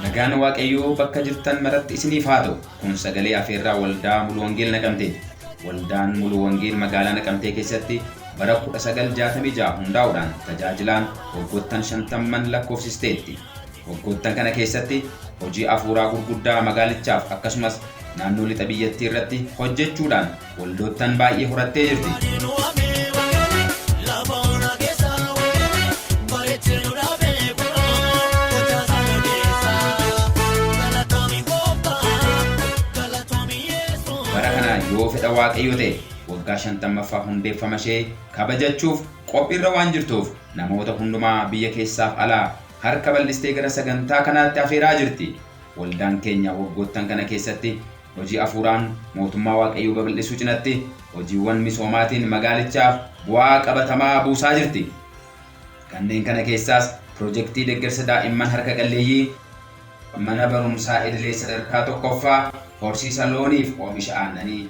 Nagaan Waaqayyoo bakka jirtan maratti isiniif haa ta'u. Kun sagalee afeerraa waldaa Mulu Wangeel Naqamteeti. Waldaan Mulu Wangeel magaalaa Naqamtee keessatti bara 1966 hundaa'uudhaan tajaajilaan waggoottan shantamman lakkoofsisteetti. Waggoottan kana keessatti hojii afuuraa gurguddaa magaalichaaf akkasumas naannoo lixa biyyattii irratti hojjechuudhaan Waldoottan baay'ee horattee jirti. Bara kana yoo fedha waaqayyoo ta'e waggaa 50ffaa hundeeffama ishee kabajachuuf qophiirra waan jirtuuf namoota hundumaa biyya keessaaf alaa harka bal'istee gara sagantaa kanaatti afeeraa jirti. Waldaan keenya waggoottan kana keessatti Hojii afuuraan mootummaa Waaqayyoo babal'isuu cinatti hojiiwwan misoomaatiin magaalichaaf bu'aa qabatamaa buusaa jirti. Kanneen kana keessaas pirojektii deggersa daa'imman harka qalleeyyii, mana barumsaa idilee sadarkaa tokkoffaa, horsiisa looniif oomisha aannanii.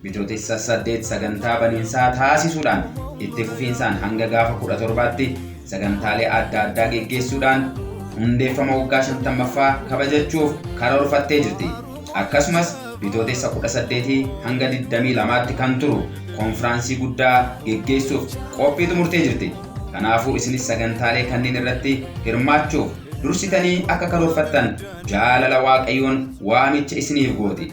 Bitootessa 8 sagantaa baniinsaa taasisuudhaan itti fufiinsaan hanga gaafa 17tti sagantaalee adda addaa geggeessuudhaan hundeeffama waggaa 50ffaa kabajachuuf karoorfattee jirti. Akkasumas bitootessa 18 hanga 22tti kan turu konfiraansii guddaa geggeessuuf qophii xumurtee jirti. Kanaafuu isinis sagantaalee kanneen irratti hirmaachuuf dursitanii akka karoorfattan jaalala Waaqayyoon waamicha isiniif gooti.